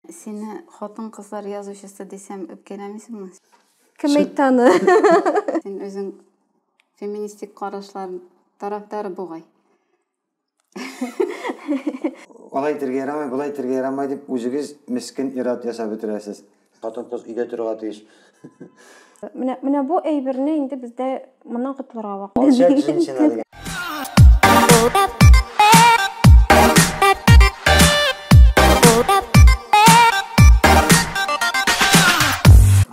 Сине хатын-кызлар язучысы дисәм, үпкәләмисеңме? Кем әйтте аны? Син үзең феминистик карашлар тарафдары бугай. Алай итергә ярамый, болай итергә ярамый дип, үзегез мескен ир-ат ясап бетерәсез. Хатын-кыз өйдә торырга тиеш. Менә менә бу әйберне инде бездә моннан котылырга вакыт. Алчак җенчина дигән.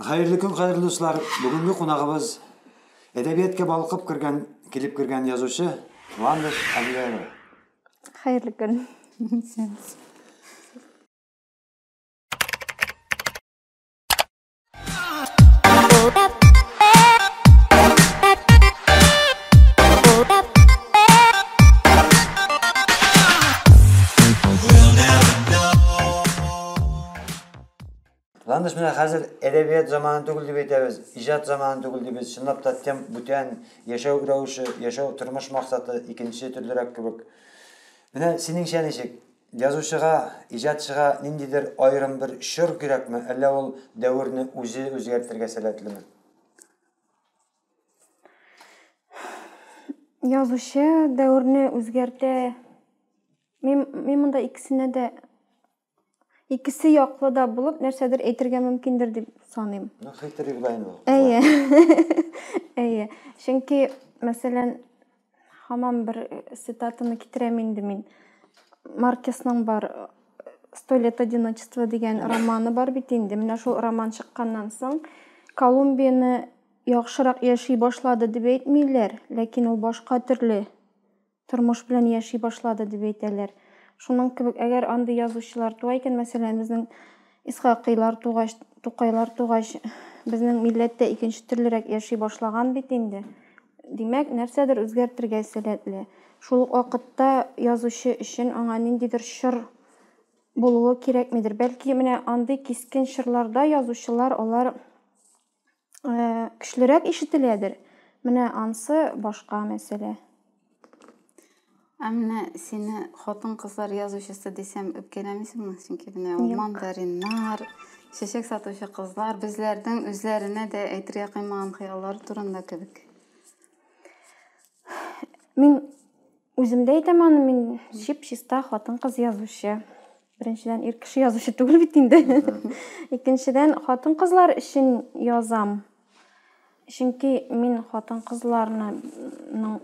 Хәерле көн, хәерле дуслар. Бүгенге кунагыбыз әдәбиятка балкып кергән, килеп кергән язучы Вандыш Абилярова. Хәерле көн. Ландыш менә хәзер әдәбият заманы түгел дип әйтәбез, иҗат заманы түгел дип без чынлап та тем бүтән яшәү рәвеше, яшәү тормыш максаты икенче төрлерәк кебек. Менә синеңчә ничек? Язучыга, иҗатчыга ниндидер аерым бер чор кирәкме, әллә ул дәверне үзе үзгәртергә сәләтлеме? Язучы дәверне үзгәртә. Мин, мин монда икесенә дә икесе яклы да булып нәрсәдер әйтергә мөмкиндер дип саныйм. Ну, хитрый була инде. Әйе. Әйе. Чөнки, мәсәлән, Хамам бер э, цитатаны китерәм инде мин. Маркесның бар э, «Сто лет одиночества» дигән романы бар бит инде. Менә шул роман чыкканнан соң Колумбияны яхшырак яши башлады дип әйтмиләр, ләкин ул башка төрле тормыш белән яши башлады дип әйтәләр. Шуның кебек, әгәр андый язучылар туа икән, мәсәлән, безнең Исхакыйлар тугач, Тукайлар тугач, безнең милләт тә икенче төрлерәк яши башлаган бит инде. Димәк, нәрсәдер үзгәртергә сәләтле. Шул ук вакытта язучы өчен аңа ниндидер чор булуы кирәкмидер. Бәлки, менә андый кискен чорларда язучылар алар көчлерәк ишетеләдер. Менә ансы башка мәсьәлә. Ә менә сине хатын-кызлар язучысы дисәм үпкәләмисеңме? Чөнки менә ул мандариннар, чәчәк сатучы кызлар безләрнең үзләренә дә әйтергә кыймаган хыяллар турында кебек. Мин Үзем дә әйтәм аны, мин чип-чиста хатын-кыз язучы. Беренчедән, ир кеше язучы түгел бит инде. Икенчедән, хатын-кызлар өчен язам. Чөнки мин хатын-кызларның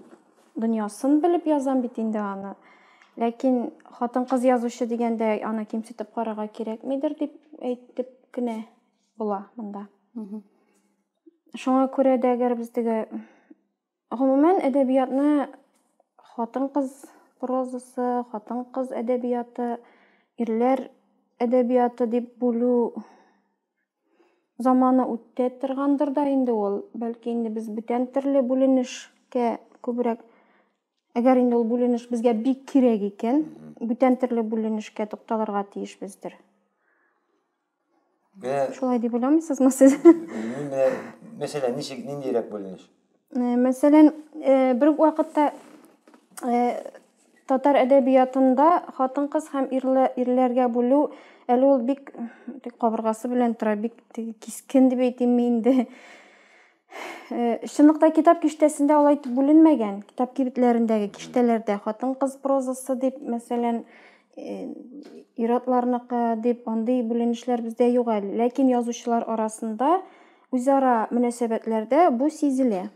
дөньясын белеп язам бит инде аны. Ләкин хатын-кыз язучы дигәндә аны кимсетеп карарга кирәкмидер дип әйтеп кенә була монда. Шуңа күрә дә, әгәр без теге Гомумән, әдәбиятны хатын-кыз прозасы, хатын-кыз әдәбияты, ирләр әдәбияты дип бүлү заманы үтте торгандыр да инде ул. Бәлки инде без бүтән төрле бүленешкә күбрәк Әгәр инде ул бүленеш безгә бик кирәк икән, бүтән төрле бүленешкә тукталырга тиешбездер. Менә Шулай дип уйламыйсызмы сез? мин менә мәсәлән ничек ниндирәк бүленеш? Э, Мәсәлән, э, бер үк вакытта э, татар әдәбиятында хатын-кыз һәм ирле- ирләргә бүлү әле ул бик м, теге кабыргасы белән тора, бик теге кискен дип әйтимме инде. Э, чынлыкта китап киштәсендә алай итеп бүленмәгән китап кибетләрендәге киштәләрдә хатын кыз прозасы дип мәсәлән э, иратларныкы дип андый бүленешләр бездә юк әле ләкин язучылар арасында үзара мөнәсәбәтләрдә бу сизелә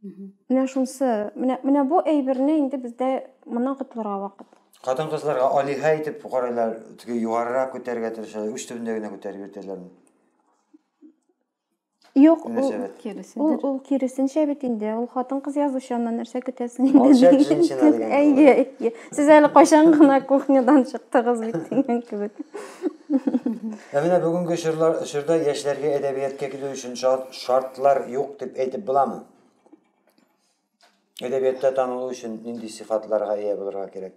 менә шунысы менә менә бу әйберне инде бездә моннан котылырга вакыт хатын кызларга алиһә итеп карайлар теге югарырак күтәрергә тырышалар уч төбендә генә күтәреп йөртәләрме Юк, ул Мөнәсәбәт. киресендер. Ул ул киресенчә бит инде. Ул хатын-кыз язучы, аннан нәрсә көтәсең инде? Алчак дигән җенчина кебек. дигән Әйе, кебек. әйе. Сез әле кайчан гына кухнядан чыктыгыз бит дигән кебек. Ә менә бүгенге чорлар чорда яшьләргә әдәбиятка килү өчен шарт шартлар юк дип әйтеп буламы? Әдәбиятта танылу өчен нинди сыйфатларга ия булырга кирәк?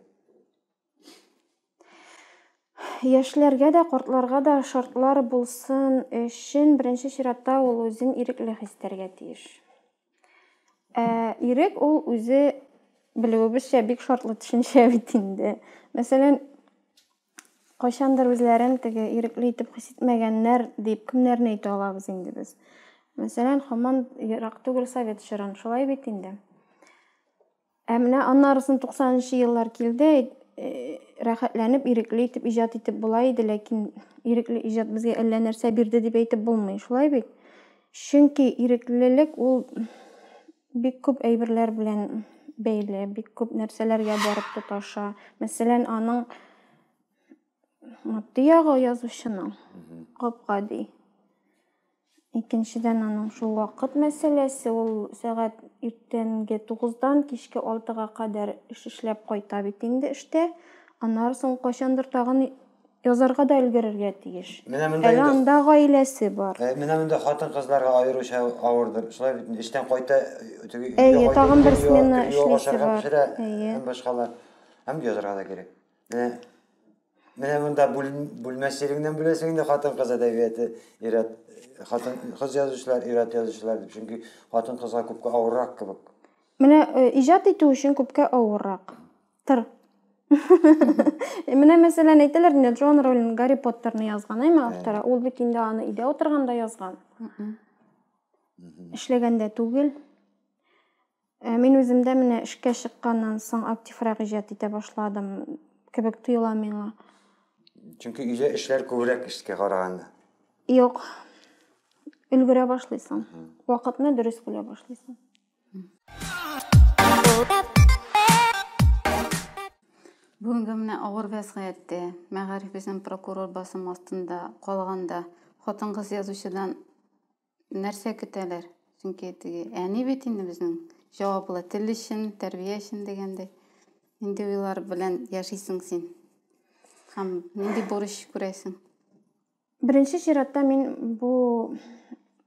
Яшьләргә дә, картларга да шартлар булсын өчен беренче чиратта ул үзен ирекле хис итәргә тиеш. Ә ирек ул үзе белүебезчә бик шартлы төшенчә бит инде. Мәсәлән, кайчандыр үзләрен теге ирекле итеп хис итмәгәннәр дип кемнәрне әйтә алабыз инде без? Мәсәлән, хаман ерак түгел совет чорын, шулай бит инде. Ә менә аннарысын туксанынчы еллар килде, рәхәтләнеп, ирекле итеп иҗат итеп була иде, ләкин ирекле иҗат безгә әллә нәрсә бирде дип әйтеп булмый, шулай бит? Чөнки иреклелек ул бик күп әйберләр белән бәйле, бик күп нәрсәләргә барып тоташа. Мәсәлән, аның матди ягы язучының гап-гади. Икенчедән, аның шул вакыт мәсьәләсе, ул сәгать иртәнге тугыздан кичке алтыга кадәр эш эшләп кайта бит инде эштә, аннары соң кайчандыр тагын язарга да өлгерергә тиеш. Менә монда инде. Әле анда гаиләсе бар. Әй, менә монда хатын-кызларга аеруча авырдыр. Шулай бит инде, эштән кайта, теге өйгә кайта, өйдә юа, ашарга пешерә һәм башкалар. Һәм язарга да кирәк. Менә, менә монда бүлмә стилеңнән беләсең инде хатын-кыз әдәбияты ират хатын кыз язучылар, ират язучылар дип. Чөнки хатын-кызга күпкә авыррак кебек. Менә э, иҗат итү өчен күпкә авыррак. Тыр. Менә мәсәлән әйтәләр инде Джон Роллинг Гарри Поттерны язган, әйме автора. Ул бит инде аны өйдә утырганда язган. Эшләгәндә түгел. Ә мин үземдә менә эшкә чыкканнан соң активрак иҗат итә башладым кебек тоела миңа. Чөнки өйдә эшләр күбрәк эшкә караганда. Юк. Өлгерә башлыйсың. Вакытны дөрес бүлә башлыйсың. Бүгенге менә авыр вәзгыятьтә, мәгариф өчен прокурор басым астында калганда, хатын-кыз язучыдан Нәрсә көтәләр? Чөнки теге әни бит инде безнең җаваплы тел өчен, тәрбия өчен дигәндәй. Нинди уйлар белән яшисең син? Һәм нинди бурыч күрәсең? Беренче чиратта мин бу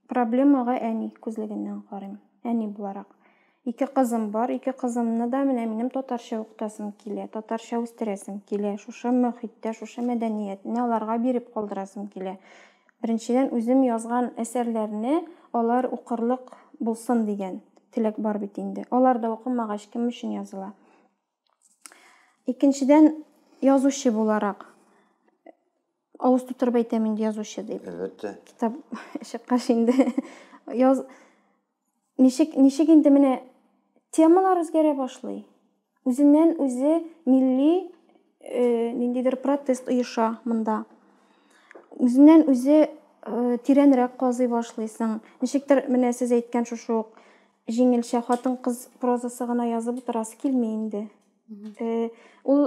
проблемага әни күзлегеннән карыйм. Әни буларак. Ике кызым бар, ике кызымны да менә минем татарча укытасым килә, татарча үстерәсем килә, шушы мохиттә, шушы мәдәниятне аларга биреп калдырасым килә. Беренчедән, үзем язган әсәрләрне алар укырлык булсын дигән теләк бар бит инде. Алар да укымагач, кем өчен языла? Икенчедән, язучы буларак, авыз тутырып әйтәм инде язучы дип. Әлбәттә. Китап чыккач инде яз ничек ничек инде менә темалар үзгәрә башлый. Үзеннән үзе милли э, ниндидер протест оеша монда. Үзеннән үзе э, тирәнрәк казый башлыйсың. Ничектер менә сез әйткән шушы ук Җиңелчә хатын-кыз прозасы гына язып утырасы килми инде. Ул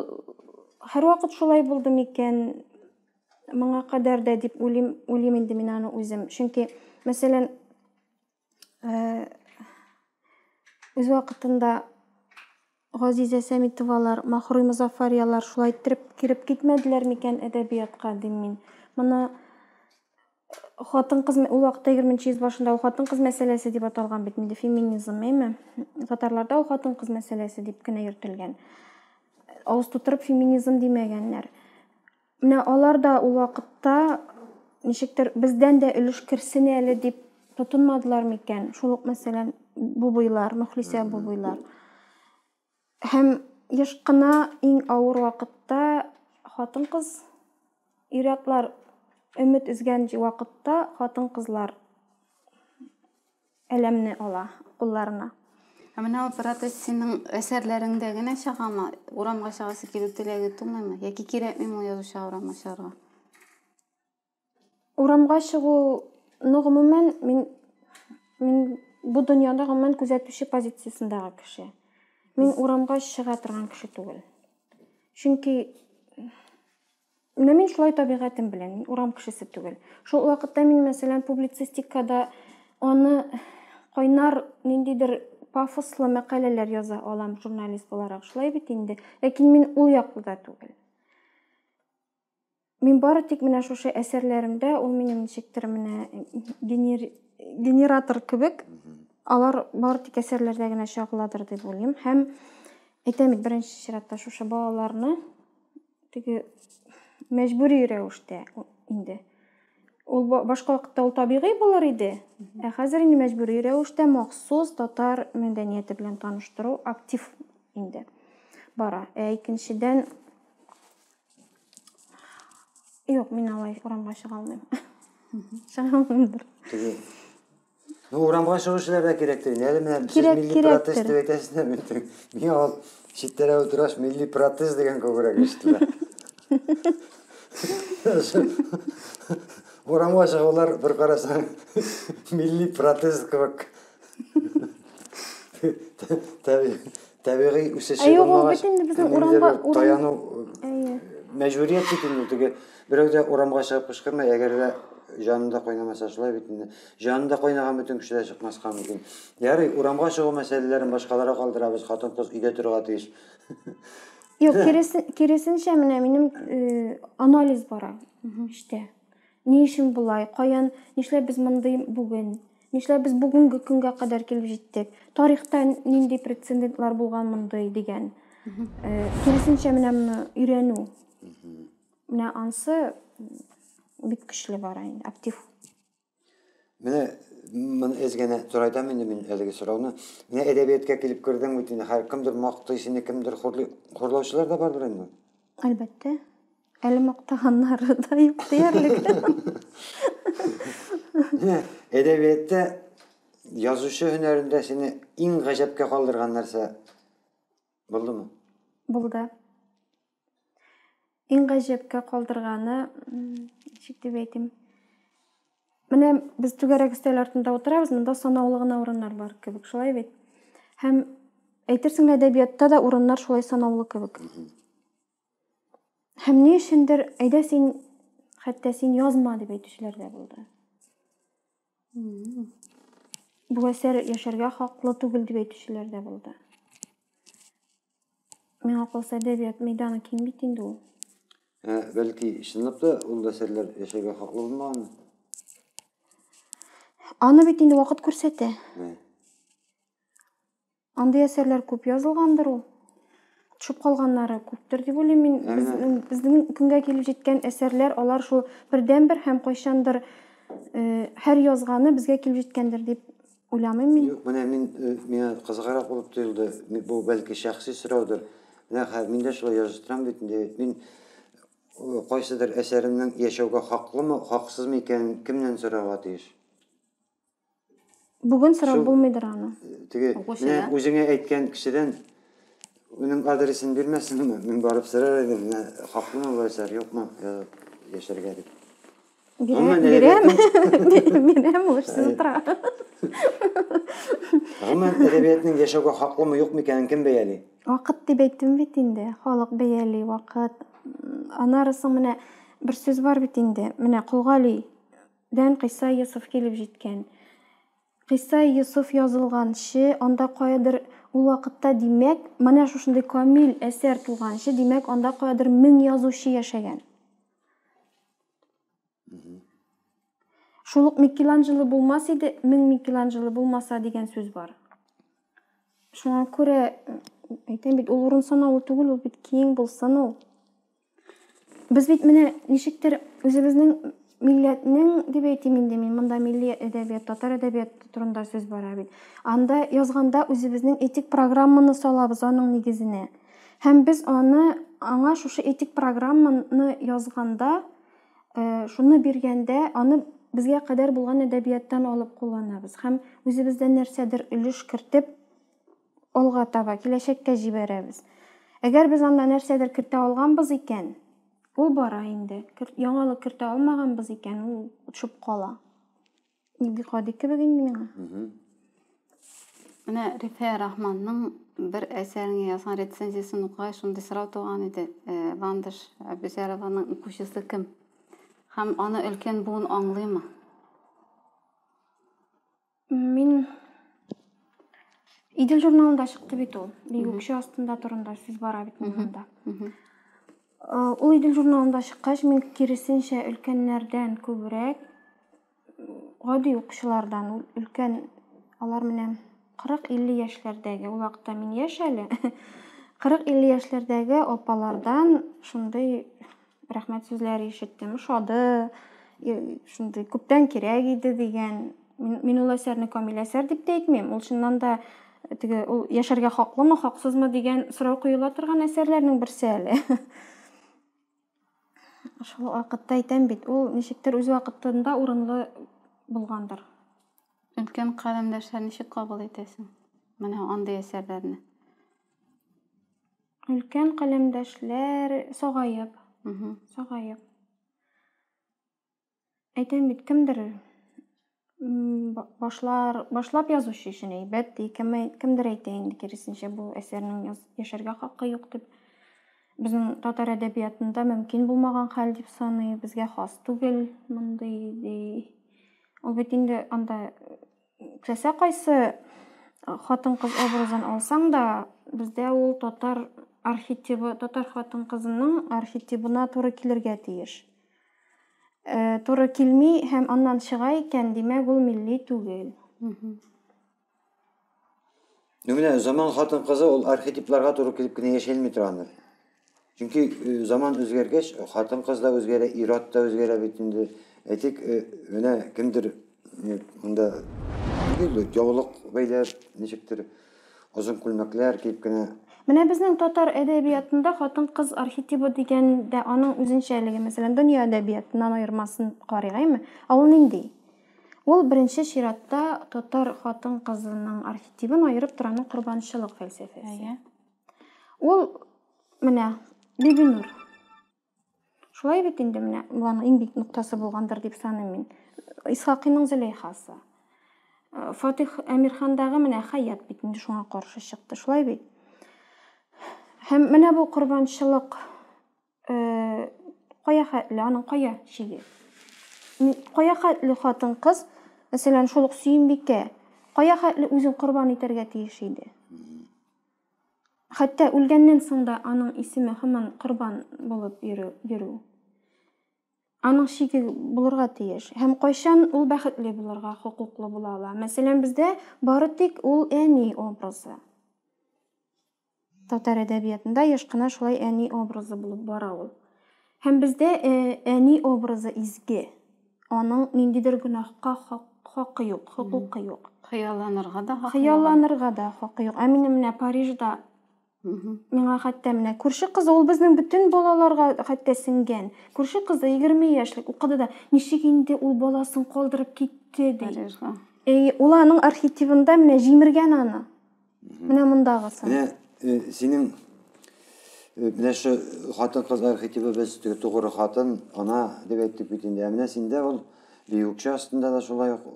һәрвакыт шулай булды микән? Моңа кадәр дә дип уйлыйм, уйлыйм инде мин аны үзем. Чөнки, мәсәлән, үз вакытында Газизә Сәмитовалар, Махруй Мозаффарьялар шулай иттереп кереп китмәделәр микән әдәбиятка, дим мин. Моны хатын-кыз, ул вакытта 20 нче йөз башында ул хатын-кыз мәсьәләсе дип аталган бит инде, феминизм, әйме? Татарларда ул хатын-кыз мәсьәләсе дип кенә йөртелгән. Авыз тутырып феминизм димәгәннәр. Менә алар да ул вакытта ничектер бездән дә өлеш керсен әле дип тотынмадылар микән? Шул ук мәсәлән бубыйлар, Мөхлисә бубыйлар. Һәм еш кына иң авыр вакытта хатын-кыз ир-атлар өмет өзгән вакытта хатын-кызлар Әләмне ала кулларына. Ә менә ул протез синең әсәрләреңдә генә чыгамы? Урамга чыгасы килү теләге тумыймы? Яки кирәкмиме ул язучыга урамга чыгарга? Урамга чыгуны гомумән мин мин бу дөньяда гомумән күзәтүче позициясендәге кеше. Мин урамга чыга торган кеше түгел. Чөнки Менә мин шулай табигатем белән, мин урам кешесе түгел. Шул вакытта мин, мәсәлән, публицистикада аны кайнар ниндидер пафослы мәкаләләр яза алам журналист буларак, шулай бит инде. Ләкин мин ул яклы да түгел. Мин бары тик менә шушы әсәрләремдә ул минем ничектер менә генер... генератор кебек, алар бары тик әсәрләрдә генә чагыладыр дип уйлыйм. Һәм әйтәм бит, беренче чиратта шушы балаларны теге мәҗбүри рәвештә инде. Ул башка вакытта ул табигый булыр иде, ә хәзер инде мәҗбүри рәвештә махсус татар мәдәнияте белән таныштыру актив инде бара. Ә икенчедән Юк, мин алай урамга чыга алмыйм. Чыга алмыймдыр. Ну, урамга чыгу эшләр дә кирәктер. Әле менә сез милли протез дип әйтәсезләр бит. Миңа ул читтәрә утыраш милли протез дигән күбрәк ишетелә. Урамга чыгулар бер карасаң милли протез кебек. Табигый үсеше булмагач. Юк, ул бит инде безнең урамга таяну мәҗбүрият бит инде теге Берәү дә урамга чыгып кычкырмый, әгәр дә җанында кайнамаса, шулай бит инде. Җанында кайнаган бөтен кеше дә чыкмаска мөмкин. Ярый, урамга чыгу мәсьәләләрен башкаларга калдырабыз, хатын-кыз өйдә торырга тиеш. Юк, киресенчә, менә минем анализ бара эчтә. Ни өчен болай? Каян, нишләп без мондый бүген? Нишләп без бүгенге көнгә кадәр килеп җиттек? Тарихта нинди прецедентлар булган мондый дигән. Киресенчә, менә моны өйрәнү. Менә ансы бик көчле бара инде, актив. Менә моны эз генә турайдам инде мин әлеге сорауны. Менә әдәбияткә килеп кердең бит инде, хәр кемдер мактый сине, кемдер хурлый. Хурлаучылар да бардыр инде? Әлбәттә. Әле мактаганнары да юк диярлек. Менә әдәбиятта язучы һөнәрендә сине иң гаҗәпкә калдырган нәрсә булдымы? Булды. Иң гаҗәпкә калдырганы, ничек дип әйтим, менә без түгәрәк өстәл артында утырабыз, монда санаулы гына урыннар бар кебек, шулай бит? Һәм әйтерсең лә әдәбиятта да урыннар шулай санаулы кебек. Һәм ни өчендер, әйдә син, хәтта син язма дип әйтүчеләр дә булды. Бу әсәр яшәргә хаклы түгел дип әйтүчеләр дә булды. Миңа калса, әдәбият мәйданы киң бит инде ул. Ә, бәлки, чынлап та ул да серләр яшәргә хаклы булмаганмы? Аны бит инде вакыт күрсәтә. Ә. Андый әсәрләр күп язылгандыр ул. Төшеп калганнары күптер дип уйлыйм мин. Ә, Безнең, безнең көнгә килеп җиткән әсәрләр, алар шул бердәнбер һәм кайчандыр э, һәр язганы безгә килеп җиткәндер дип уйламыйм мин. Юк, менә мин, миңа кызыграк булып тоелды, бу бәлки шәхси сораудыр, менә хәзер мин дә шулай языштырам бит инде, мин кайсыдыр әсәремнең яшәүгә хаклымы, хаксызмы икәнен кемнән сорарга тиеш? Бүген сорап булмыйдыр аны. Теге, менә үзеңә әйткән кешедән уның адресын бирмәсенме, мин барып сорар идем, менә хаклымы бу әсәр, юкмы, яшәргә дип. Гомумән әдәбиятның Бирәм, һушсыз утыра. Гомумән әдәбиятның яшәүгә хаклымы, юкмы икәнен кем бәяли? Вакыт дип әйттем бит инде. Халык бәяли, вакыт. Аннары соң менә бер сүз бар бит инде. Менә Колгалидән Кыйса Йосыф килеп җиткән. Кыйса Йосыф язылганчы, анда каядыр ул вакытта, димәк, менә шушындый камил әсәр тулганчы, димәк, анда каядыр мең язучы яшәгән. Угу. Шул ук Микеланджело булмас иде, мең Микеланджело булмаса дигән сүз бар. Шуңа күрә әйтәм бит, ул урын санаулы түгел, ул бит киң булсын ул. Без бит менә ничектер үзебезнең милләтнең дип әйтим инде мин, монда милли әдәбият, татар әдәбияты турында сүз бара бит. Анда язганда үзебезнең этик программаны салабыз аның нигезенә. Һәм без аны аңа шушы этик программаны язганда, шуны биргәндә, аны безгә кадәр булган әдәбияттан алып кулланабыз һәм үзебездән нәрсәдер өлеш кертеп, алга таба, киләчәккә җибәрәбез. Әгәр без анда нәрсәдер кертә алганбыз икән, ул бара инде, яңалык кертә алмаганбыз икән, ул шып кала. Игътикади кебек инде миңа. Менә Рифә Рахманның бер әсәренә язган рецензиясен укыгач, шундый сорау туган иде. Э, Ландыш Әбүзәрованың укучысы кем? Һәм аны өлкән буын аңлыймы? Мин Идел журналында чыкты бит ул. Бигүкше астында турында сүз бара бит монда. Ул Идел журналында чыккач, мин киресенчә өлкәннәрдән күбрәк, гади укучылардан, ул өлкән, алар менә 40-50 яшьләрдәге, ул вакытта мин яшь әле, 40-50 яшьләрдәге апалардан шундый рәхмәт сүзләре ишеттем, ошады, шундый күптән кирәк иде дигән. Мин ул әсәрне камил әсәр дип тә әйтмим, ул чыннан да Теге ул яшәргә хаклымы, хаксызмы дигән сорау коела торган әсәрләрнең берсе әле. Шул вакытта әйтәм бит, ул ничектер үз вакытында урынлы булгандыр. Өлкән каләмдәшләр ничек кабул итәсең? Менә андый әсәрләрне. Өлкән каләмдәшләр сагаеп, сагаеп. Әйтәм бит, кемдер башлар, башлап язучы өчен әйбәт, ди, кемдер әйтә инде киресенчә, бу әсәрнең яшәргә хакы юк дип. Безнең татар әдәбиятында мөмкин булмаган хәл дип саный, безгә хас түгел мондый, ди. Ул бит инде анда Теләсә кайсы хатын-кыз образын алсаң да, бездә ул татар архетибы, татар хатын-кызының архетибына туры килергә тиеш. Э, туры килми һәм аннан чыга икән, димәк, ул милли түгел. Ну менә заман хатын-кызы ул архетипларга туры килеп кенә яшәлми тора аны. Чөнки э, заман үзгәргәч, хатын-кыз да үзгәрә, ир-ат та үзгәрә бит инде. Әйтик, э, менә кемдер э, монда нинди яулык бәйләп, ничектер озын күлмәкләр киеп кенә Менә безнең татар әдәбиятында хатын-кыз архетибы дигән дә аның үзенчәлеге. Мәсәлән, дөнья әдәбиятыннан аермасын карыйк, әйме? Ә ул нинди? Ул беренче чиратта татар хатын-кызының архетибын аерып тораны корбанчылык фәлсәфәсе. Ул менә Бибинур. Шулай бит инде менә аның иң бик ноктасы булгандыр дип саныйм мин. Исхакыйның Зөләйхасы. Э, Фатих Әмирхандагы менә Хаят бит инде шуңа каршы чыкты. Шулай бит. Һәм менә бу корбанчылык Э, кая хәтле, аның кая чиге? Кая хәтле хатын-кыз, мәсәлән, шул ук Сөембикә, кая хәтле үзен корбан итәргә тиеш иде? Хәтта үлгәннән соң да аның исеме һаман корбан булып йөрү. Аның чиге булырга тиеш. Һәм кайчан ул бәхетле булырга хокуклы була ала? Мәсәлән, бездә бары тик ул әни образы. Татар әдәбиятында еш кына шулай әни образы булып бара ул. Һәм бездә әни образы изге. Аның ниндидер гөнаһка хакы юк, хокукы юк. Хыялланырга да хакы юк. Хыялланырга да хакы юк. Ә минем менә Парижда Миңа хәтта менә күрше кызы, ул безнең бөтен балаларга хәтта сеңгән. Күрше кызы 20 яшьлек укыды да, ничек инде ул баласын калдырып китте ди. Ул аның архетивында менә җимергән аны. Менә мондагысы. Менә э, синең э, менә шу хатын кыз архетипы без тугры хатын, ана дип әйттек бит инде. Ә менә синдә ул биюкчә астында да шулай ук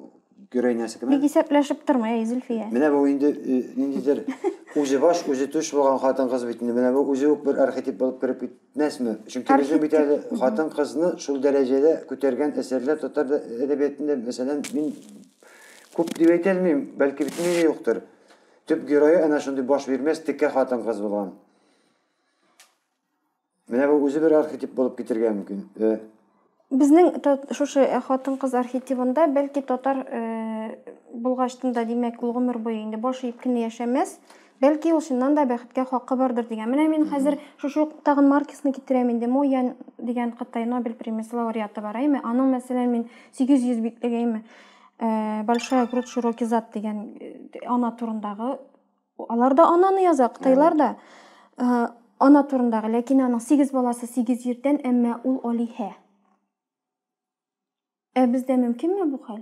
гөрәй нәрсә кем? Бик исәпләшеп тормый, әй Зөлфия. Менә бу инде э, ниндидер үзе баш, үзе түш булган хатын кыз бит инде. Менә бу үзе үк бер архетип булып кереп китмәсме? Чөнки безнең бит әле хатын кызны шул дәрәҗәдә күтәргән әсәрләр татар әдәбиятында, мәсәлән, мин Күп дип әйтә алмыйм, бәлки бөтенләй дә юктыр. Төп герое әнә шундый баш бирмәс текә хатын-кыз булган. Менә бу үзе бер архетип булып китергә мөмкин. Э, Безнең шушы э, хатын-кыз архетибында бәлки татар э, булгачтында, димәк, ул гомер буе инде баш иеп кенә яшәмәс. Бәлки ул чыннан да бәхеткә хакы бардыр дигән. Менә мин хәзер шушы ук тагын Маркесны китерәм инде. Мо Ян дигән Кытай Нобель премиясе лауреаты бар, әйме? Аның, мәсәлән, мин 800 битлек, әйме, э, Большая грудь, широкий зад дигән э, ана турындагы алар да ананы яза, кытайлар да. Э, ана турындагы, ләкин аның 8 баласы 8 җирдән, әмма ул алиһә. Ә бездә мөмкинме бу хәл?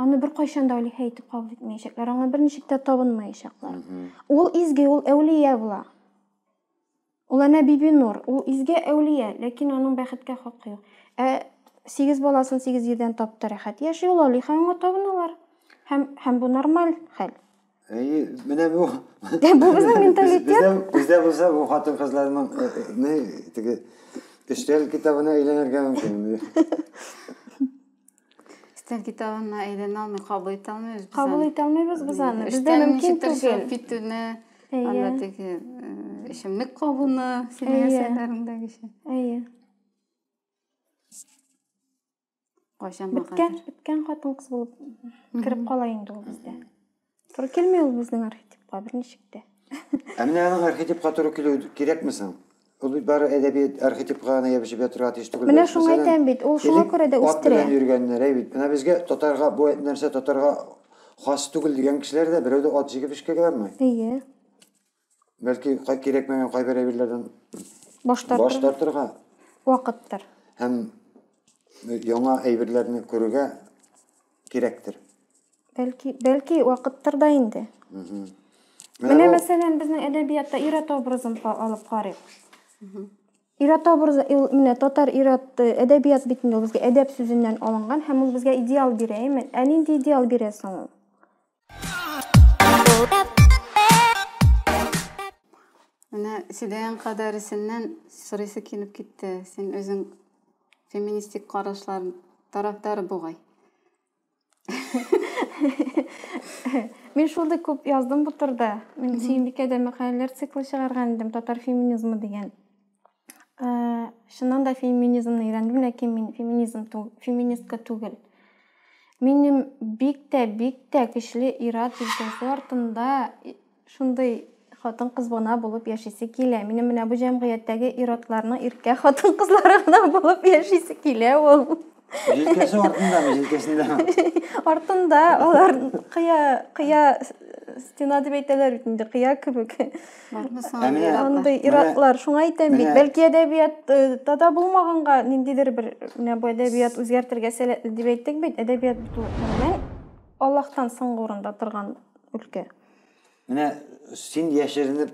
Аны беркайчан да алиһә итеп кабул итмәячәкләр, аңа берничек тә табынмаячаклар. Ул изге, ул әүлия була. Ул әнә Бибинур, ул изге әүлия, ләкин аның бәхеткә хакы юк. Ә сигез баласын сигез җирдән тапты, рәхәт яши ул, алиһә аңа табыналар. Һәм, һәм бу нормаль хәл. Әйе, менә бу. Ә бу безнең менталитет. Бездә бездә булса бу хатын-кызларның э, э, не теге эштәл китабына әйләнергә мөмкин. Эштәл китабына әйләнә алмый, кабул итә алмыйбыз без. Кабул итә алмыйбыз без аны. Бездә мөмкин түгел. Китүне, анда теге эчемлек кабуны, синең әсәрләреңдәгечә. Әйе. Кайчан Беткән, беткән хатын-кыз булып кереп кала инде ул бездә. Туры килми ул безнең архетипка бер ничек тә. Ә менә аның архетипка туры килү кирәкме соң? Ул бит бары әдәбият архетипка гына ябышып ятырга тиеш түгел. Менә шуңа әйтәм бит, ул шуңа күрә дә үстерә. Ат йөргәннәр, әй бит. Менә безгә татарга бу нәрсә татарга хас түгел дигән кешеләр дә берәү дә ат җигеп эшкә бармый. Әйе. бәлки кирәкмәгән кайбер әйберләрдән баш тартырга вакыттыр. Һәм э, яңа әйберләрне күрергә кирәктер. Бәлки, бәлки вакыттыр да инде. Менә мәсәлән, безнең әдәбиятта ир-ат образын алып карыйк. Ир-ат образы менә татар ир-ат э, әдәбият битендә ул безгә әдәп сүзеннән алынган һәм ул безгә идеал бирә, әйме? Ә нинди идеал бирә соң ул? Менә сөйләгән кадәресеннән сорыйсы килеп китте. Син үзең феминистик карашлар тарафдары бугай. Мин шундый күп яздым бу турыда. Мин Сөембикәдә мәкаләләр циклы чыгарган идем, татар феминизмы дигән. Ә, чыннан да феминизмны өйрәндем, ләкин мин феминизм тү, феминистка түгел. Минем бик тә, бик тә көчле ират җилкәсе артында шундый хатын кыз гына булып яшисе килә. Минем менә бу җәмгыятьтәге иратларның иркә хатын кызлары гына булып яшисе килә ул. Җилкәсе артындамы, җилкәсендәме? Артында, алар кыя, кыя стена дип әйтәләр бит инде, кыя кебек. Андый иратлар, шуңа әйтәм бит, бәлки әдәбиятта э, да булмаганга ниндидер бер менә бу әдәбият үзгәртергә сәләтле дип әйттек бит, әдәбият бит ул гомумән Аллаһтан соңгы урында торган өлкә. Менә син яшеренеп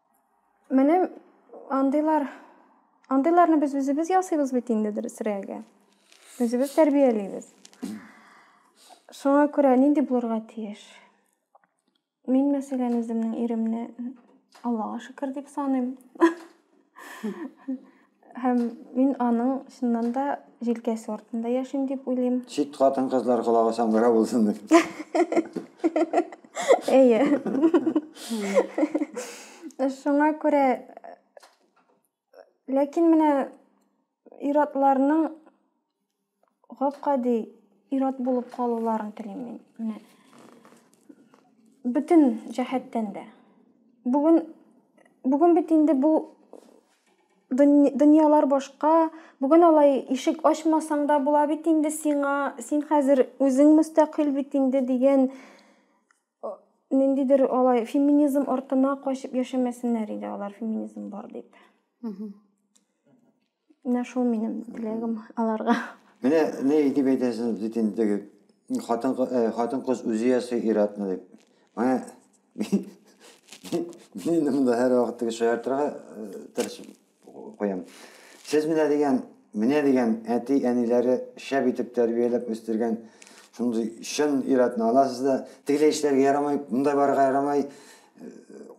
Менә андыйлар андыйларны без үзебез ясыйбыз бит инде дөресрәге. Үзебез тәрбиялибез. Шуңа күрә нинди булырга тиеш? Мин мәсәлән үземнең иремне Аллага шөкер дип саныйм. Һәм мин аның чыннан да җилкәсе артында яшим дип уйлыйм. Чит хатын-кызлар колагы саңгыра булсын дип. Әйе. Шуңа күрә ләкин менә ир-атларның Гап-гади ир-ат булып калуларын телим мин. Менә бөтен җәһәттән дә. Бүген бүген бит инде бу дөньялар башка. Бүген алай ишек ачмасаң да була бит инде сиңа. Син хәзер үзең мөстәкыйль бит инде дигән ниндидер алай феминизм артына качып яшәмәсеннәр иде алар феминизм бар дип. Менә шул минем теләгем аларга. Менә ни дип әйтәсез бит инде теге хатын э, хатын кыз үзе ясый иратны дип. Менә мин монда һәр вакыт теге шаяртырга э, тырышып куям. Сез менә дигән, менә дигән әти әниләре шәп итеп тәрбияләп үстергән шундый чын иратны аласыз да, тегеләй эшләргә ярамай, монда барырга ярамай, э,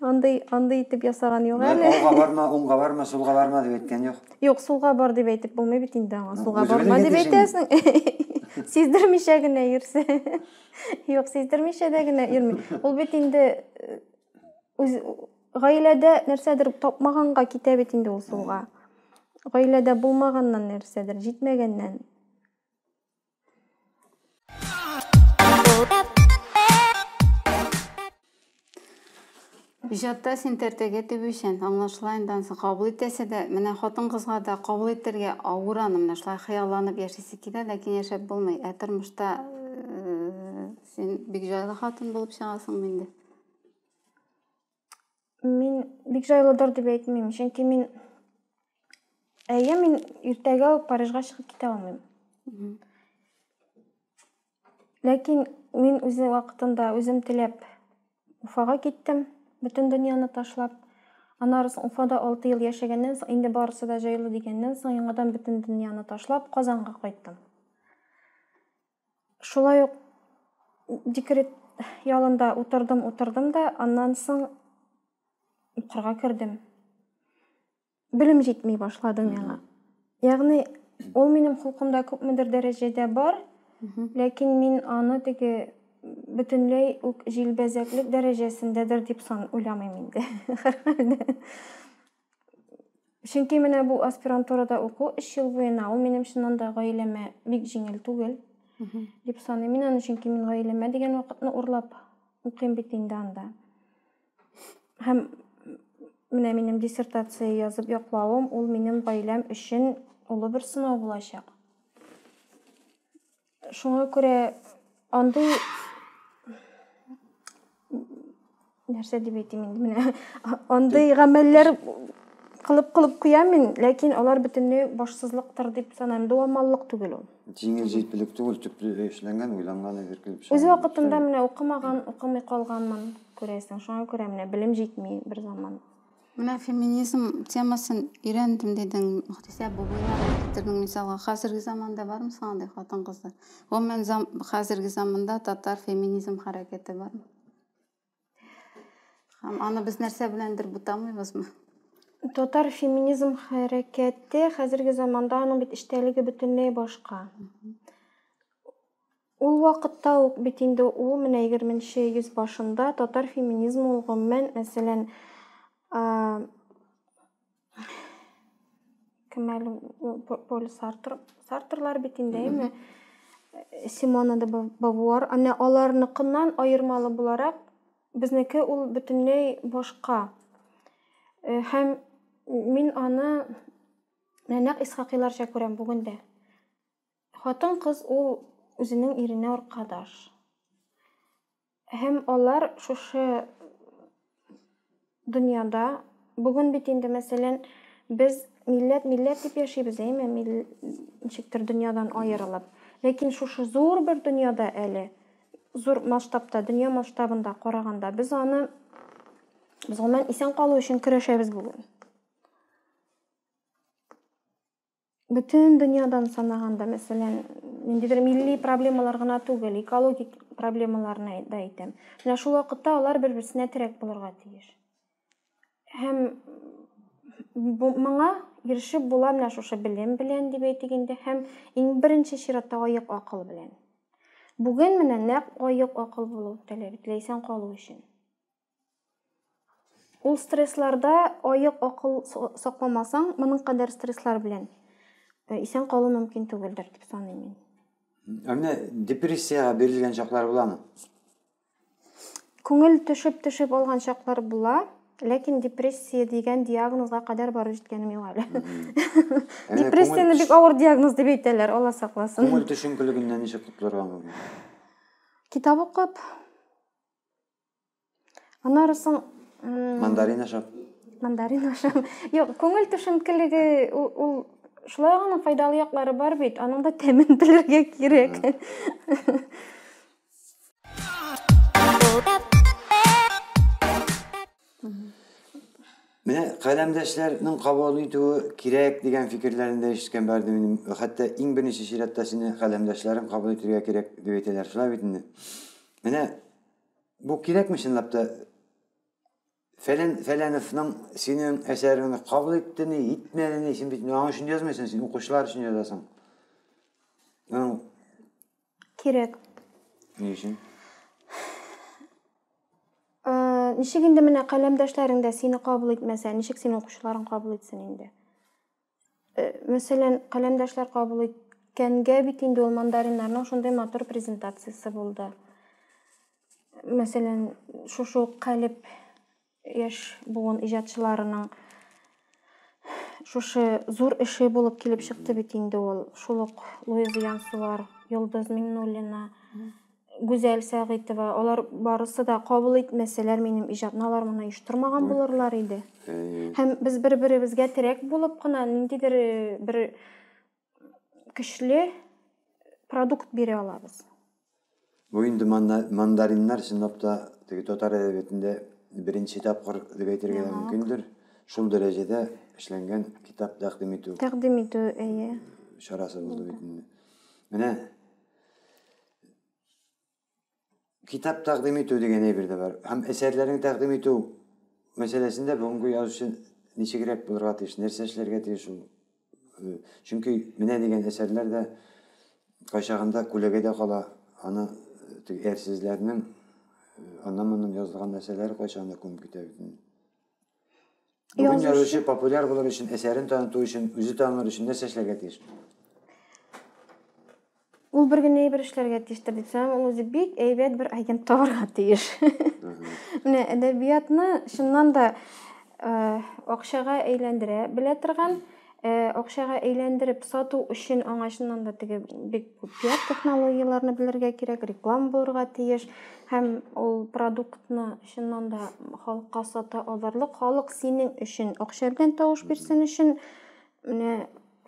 Андый, андый итеп ясаган юк әле. Мә, алга барма, уңга барма, сулга барма дип әйткән юк. Юк, сулга бар дип әйтеп булмый бит инде аңа. Сулга барма дип әйтәсең. Сиздермичә генә йөрсә. Юк, сиздермичә дә генә йөрми. Ул бит инде э, үз гаиләдә нәрсәдер тапмаганга китә бит инде ул сулга. Гаиләдә булмаганнан нәрсәдер, җитмәгәннән. Иҗатта син тәртәгә тибүчән, аңлашыла инде ансы кабул итәсе дә, менә хатын-кызга да кабул итәргә авыр аны, менә шулай хыялланып яшисе килә, ләкин яшәп булмый. Ә тормышта э, син бик җайлы хатын булып чыгасың инде. Мин бик җайлыдыр дип әйтмим, чөнки мин әйе, мин иртәгә үк Парижга чыгып китә алмыйм. Ләкин мин үзе вакытында үзем теләп Уфага киттем, бөтен дөньяны ташлап. Аннары соң Уфада 6 ел яшәгәннән соң, инде барысы да җайлы дигәннән соң, яңадан бөтен дөньяны ташлап Казанга кайттым. Шулай ук декрет ялында утырдым, утырдым да, аннан соң укырга кердем. Белем җитми башлады миңа. Ягъни ул минем холкымда күпмедер дәрәҗәдә бар, ләкин мин аны теге бөтенләй үк җилбәзәклек дәрәҗәсендәдер дип сан уйламыйм инде. Һәрхәлдә. Чөнки менә бу аспирантурада уку 3 ел буена ул минем чыннан да гаиләмә бик җиңел түгел дип саныйм. Мин аны чөнки мин гаиләмә дигән вакытны урлап укыйм бит инде анда. Һәм менә минем диссертация язып яклавым ул минем гаиләм өчен олы бер сынау булачак. Шуңа күрә андый нәрсә дип әйтим инде менә андый гамәлләр кылып кылып куям мин ләкин алар бөтенләй башсызлыктыр дип саныйм дуамаллык түгел ул җиңел җитдилек түгел төпле эшләнгән уйланган әйбер килеп чыга үз вакытында менә укымаган укымый калганмын күрәсең шуңа күрә менә белем җитми бер заман Менә феминизм темасын өйрәндем дидең, Мөхтисә Бубыйларны китердең мисалга. Хәзерге заманда бармы соң андый хатын-кызлар? Гомумән, зам, хәзерге заманда татар феминизм хәрәкәте бармы? Һәм аны без нәрсә беләндер бутамыйбызмы? Татар феминизм хәрәкәте хәзерге заманда аның бит эчтәлеге бөтенләй башка. Ул вакытта ук бит инде ул менә егерменче йөз башында татар феминизмы ул гомумән, мәсәлән, кем әле ул Поль Сартр, Сартрлар бит инде, әйме? Симона де Бавуар, әнә аларныкыннан аермалы буларак, безнеке ул бөтенләй башка. Э, һәм мин аны нәнәк Исхакыйларча күрәм бүген дә. Хатын-кыз ул үзенең иренә аркадаш. Һәм алар шушы дөньяда, бүген бит инде, мәсәлән, без милләт, милләт дип яшибез, әйме, ничектер дөньядан аерылып. Ләкин шушы зур бер дөньяда әле, зур масштабта, дөнья масштабында караганда, без аны, без гомумән исән калу өчен көрәшәбез бүген. бөтен дөньядан санаганда мәсәлән ниндидер милли проблемалар гына түгел экологик проблемаларны да әйтәм менә шул вакытта алар бер берсенә терәк булырга тиеш һәм моңа ирешеп була менә шушы белем белән дип әйтик инде һәм иң беренче чиратта аек акыл белән бүген менә нәкъ аек акыл булу таләп ителә исән калу өчен Ул стрессларда аек акыл сакламасаң, моның кадәр стресслар белән э, исән калу мөмкин түгелдер дип саныйм мин. Ә менә депрессиягә бирелгән чаклар буламы? Күңел төшеп төшеп алган чаклар була, ләкин депрессия дигән диагнозга кадәр барып җиткәнем юк әле. Депрессияне бик авыр диагноз дип әйтәләр, Алла сакласын. Күңел төшенкелегеннән ничек котылырга мөмкин? Китап укып, Аннары соң мандарин ашап. Мандарин ашап. Юк, күңел төшенкелеге ул шулай гына файдалы яклары бар бит. Аның да тәмен белергә кирәк. Менә каләмдәшләрнең кабул итүе кирәк дигән фикерләрен дә ишеткән барды минем. Хәтта иң беренче чиратта сине каләмдәшләрең кабул итәргә кирәк дип әйтәләр. Шулай бит инде. Менә Бу кирәкме чынлап та? Фәлән Фәләновның синең әсәреңне кабул итте ни, итмәде ни, син бит аңа өчен язмыйсың, син укучылар өчен язасың. Аның кирәк. Ни өчен? Ничек инде менә каләмдәшләрең дә сине кабул итмәсә, ничек син укучыларың кабул итсен инде? Э, мәсәлән, каләмдәшләр кабул иткәнгә бит инде ул мандариннарның шундый матур презентациясе булды. Мәсәлән, шушы ук калеб яшь буын иҗатчыларының шушы зур эше булып килеп чыкты бит инде ул. Шул ук Луиза Янсуар, Йолдыз Миңнуллина, Гүзәл Сәгыйтова, алар барысы да кабул итмәсәләр, минем иҗатны алар моны оештырмаган булырлар иде. Һәм без бер-беребезгә терәк булып кына ниндидер э, бер көчле продукт бирә алабыз. Бу инде мандариннар чынлап та теге татар әдәбиятендә беренче тапкыр дип әйтергә дә мөмкиндер. Шул дәрәҗәдә эшләнгән китап тәкъдим итү. Тәкъдим итү, әйе. Чарасы булды бит инде. Менә китап тәкъдим итү дигән әйбер дә бар. Һәм әсәрләрен тәкъдим итү мәсьәләсендә бүгенге язучы ничегрәк булырга тиеш, нәрсә эшләргә тиеш ул? Э, чөнки менә дигән әсәрләр дә кайчагында күләгәдә кала, аны э, теге әрсезләрнең э, аннан-моннан язылган нәрсәләре кайчагында күмеп китә бит. Бүген язучы популяр булыр өчен, әсәрен таныту өчен, үзе танылыр өчен нәрсә эшләргә тиеш? Ул бер генә әйбер эшләргә тиештер дип саныйм. Ул үзе бик әйбәт бер агент табарга тиеш. Менә әдәбиятны чыннан да э, акчага әйләндерә белә торган, э, акчага әйләндереп сату өчен аңа чыннан да теге бик күп пиар технологияләрне белергә кирәк, реклама булырга тиеш һәм ул продуктны Чыннан да халыкка сата алырлык, халык синең өчен акча белән тавыш бирсен өчен менә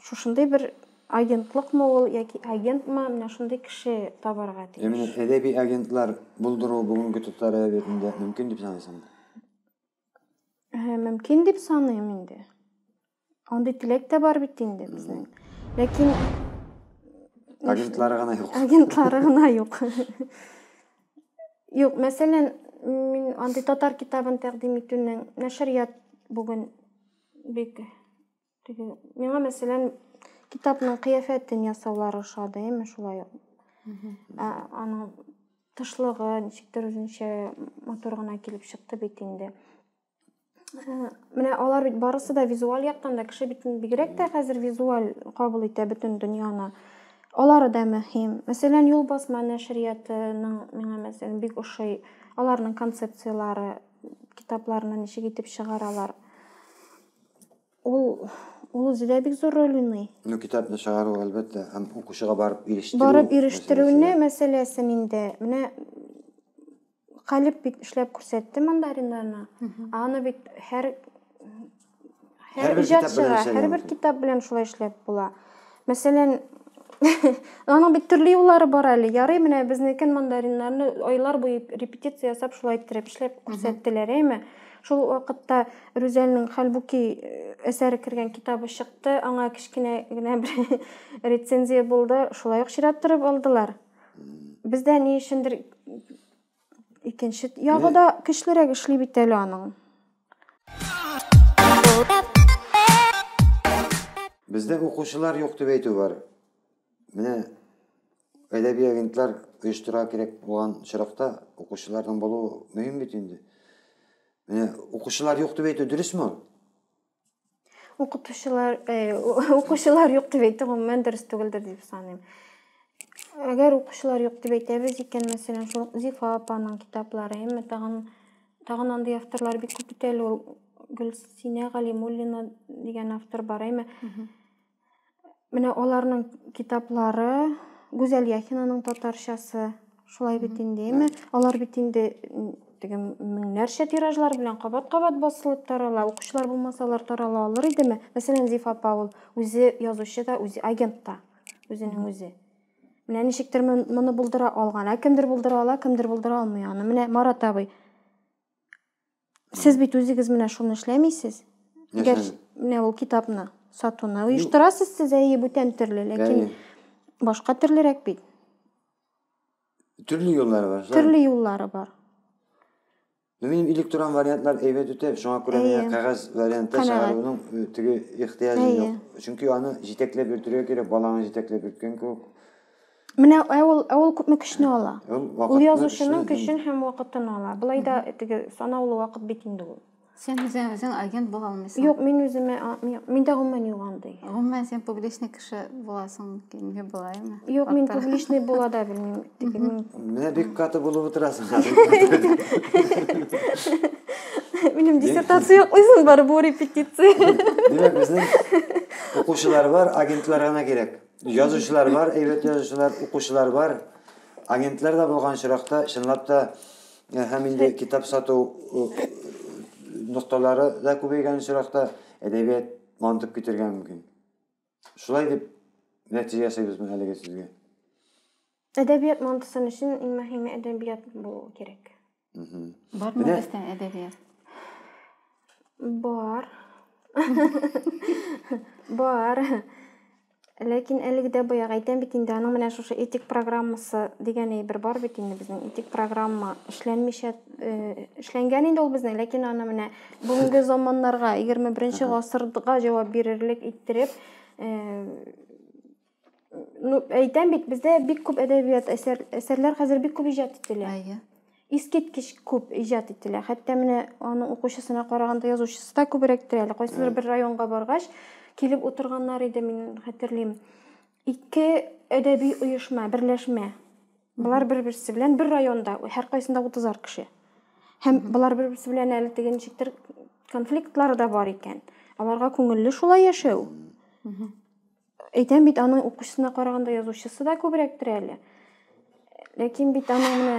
шушындый бер агентлыкмы ул яки агентмы, менә шундый кеше табарга тиеш. Ә менә әдәби агентлар булдыру бүгенге татар әдәбиятында мөмкин дип саныйсыңмы? Мөмкин дип саныйм инде. Андый теләк тә бар бит инде безнең. Ләкин агентлары гына юк. Агентлары гына юк. Юк, мәсәлән, мин андый татар китабын тәкъдим итүнең нәшрият бүген бик теге миңа мәсәлән китапның кыяфәтен ясаулары ошады, әйме шулай ук. Аның тышлыгы ничектер үзенчә матур гына килеп чыкты бит инде. Менә алар бит барысы да визуаль яктан да кеше битен бигрәк тә хәзер визуаль кабул итә бөтен дөньяны. Алары да мөһим. Мәсәлән, юл басма нәшриятының миңа мәсәлән бик ошый. Аларның концепцияләре, китапларны ничек итеп чыгаралар. Ул ул үзе дә бик зур роль уйный. Ну, китапны чыгару, әлбәттә, һәм укучыга барып ирештерү. Барып ирештерүне мәсьәләсен инде. Менә Калип бит эшләп күрсәтте мандариннарны. Аны бит һәр һәр иҗат чыга, һәрбер китап белән шулай эшләп була. Мәсәлән, аның бит төрле юллары бар әле. Ярый, менә безнекен мандариннарны айлар буе репетиция ясап шулай иттереп эшләп күрсәттеләр, әйме? Шул вакытта Рүзәлнең Хәлбуки э, әсәре кергән китабы чыкты, аңа кечкенә генә бер рецензия булды, шулай ук чират торып алдылар. Бездә ни өчендер икенче ягы да көчлерәк эшли бит әле аның. Бездә укучылар юк дип әйтү бар. Менә әдәби агентлар оештыра кирәк булган очракта укучыларның булуы мөһим бит инде. Менә укучылар юк дип әйтү дөресме? укытучылар э, укучылар юк дип әйтү гомумән дөрес түгелдер дип саныйм әгәр укучылар юк дип әйтәбез икән мәсәлән шул зифа апаның китаплары әмма тагын тагын андый авторлар бик күп бит әле ул гөлсинә галимуллина дигән автор бар әмма Менә аларның китаплары, Гүзәл Яхинаның татарчасы, шулай бит инде, әйме? Алар бит инде теге меңнәрчә тиражлар белән кабат-кабат басылып тарала. Укучылар булмаса, алар тарала алыр идеме? Мәсәлән, Зиф апа ул үзе язучы да, үзе агент та, үзенең үзе. Менә ничектер моны булдыра алган. Ә кемдер булдыра ала, кемдер булдыра алмый аны. Менә Марат абый Сез бит үзегез менә шуны эшләмисез. Әгәр менә ул китапны сатуны оештырасыз сез әйе бүтән төрле, ләкин башка төрлерәк бит. Төрле юллары бар. Төрле юллары бар. Ну, минем электрон вариантлар әйбәт үтә, шуңа күрә миңа кәгазь вариантта чыгаруның э, теге ихтыяҗы юк. Чөнки аны җитәкләп йөртергә кирәк, баланы җитәкләп йөрткән кебек. Менә ә ул, ә ул күпме көчне ала? Ул вакытны, Ул язучының көчне һәм- көчен һәм вакытын ала. Болай да теге санаулы вакыт бит инде ул. Сен үзең, үзең агент була алмыйсың. Юк, мин үземә, а, ми- миндә гомумән юк андый. Гомумән син публичный кеше буласың килми булаймы? Юк, мин Хакта. публичный була да белмим. Теге мин- Менә бик каты булып утырасың. Минем диссертация юк үзен бар, бу репетиция. Димәк, безнең укучылар бар, агентлар гына кирәк. Язучылар бар, әйбәт язучылар, укучылар бар. Агентлар да булган очракта, чынлап та, э, һәм инде китап сату э, нокталары да күбәйгән очракта әдәбият мантып китергә мөмкин. Шулай дип нәтиҗә ясыйбызмы әлеге сезгә? Әдәбият Монтусон өчен иң мөһиме әдәбият булу кирәк. Бармы Менә... бездә әдәбият? Бар. Бар. Ләкин әлеге дә баягы әйтәм бит инде, аның менә шушы этик программасы дигән әйбер бар бит инде безнең. Этик программа эшләнмичә э, эшләнгән инде ул безнең, ләкин аны менә бүгенге заманнарга, 21 гасырга җавап бирерлек иттереп, э, Ну, әйтәм бит, бездә бик күп әдәбият әсәр, әсәрләр хәзер бик күп иҗат ителә. Әйе. Искиткеч күп иҗат ителә. Хәтта менә аның укучысына караганда язучысы да күбрәктер әле. Кайсыдыр бер районга баргач, килеп утырганнар иде, мин хәтерлим. Ике әдәби оешма, берләшмә. Болар бер-берсе белән бер районда, һәркайсында 30 кеше. Һәм болар бер-берсе белән әле теге ничектер конфликтлары да бар икән. Аларга күңелле шулай яшәү. Әйтәм бит, аның укучысына караганда язучысы да күбрәктер әле. Ләкин бит аның менә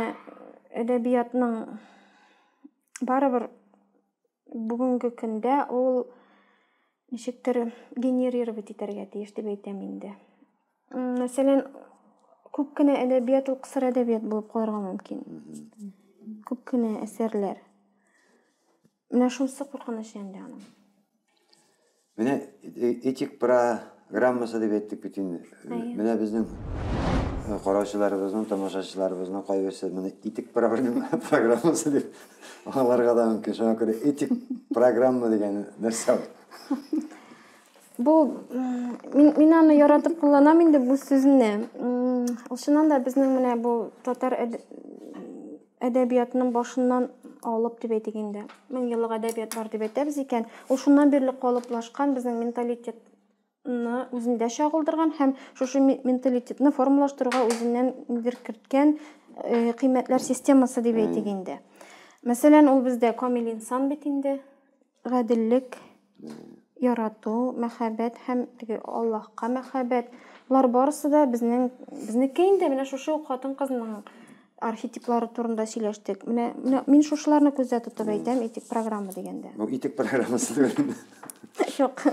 әдәбиятның барыбер бүгенге көндә ул ничектер генерировать итәргә тиеш дип әйтәм инде. Мәсәлән, күп кенә әдәбият ул кысыр әдәбият булып калырга мөмкин. Күп кенә әсәрләр. Менә шунысы куркыныч инде аның. Менә этик программасы дип әйттек бит инде. Менә безнең караучыларыбызның, тамашачыларыбызның кайберсе моны этик программасы дип аларга да мөмкин. Шуңа күрә этик программа дигән нәрсә ул. Бу мин, мин аны яратып кулланам инде бу сүзне. Ул чыннан да безнең менә бу татар әдәбиятның башыннан алып дип әйтик инде мең еллык әдәбият бар дип әйтәбез икән ул шуннан бирле калыплашкан безнең менталитетны үзендә чагылдырган һәм шушы менталитетны формалаштыруга үзеннән нидер керткән э, кыйммәтләр системасы дип әйтик инде мәсәлән ул бездә камил инсан бит инде гаделлек, ярату, мәхәббәт һәм теге Аллаһка мәхәббәт. Болар барысы да безнең безнеке инде менә шушы ук хатын-кызның архетиплары турында сөйләштек. Менә менә мин шушыларны күздә тотып әйтәм, итик программа дигәндә. Ну, итик программасы түгел. Юк.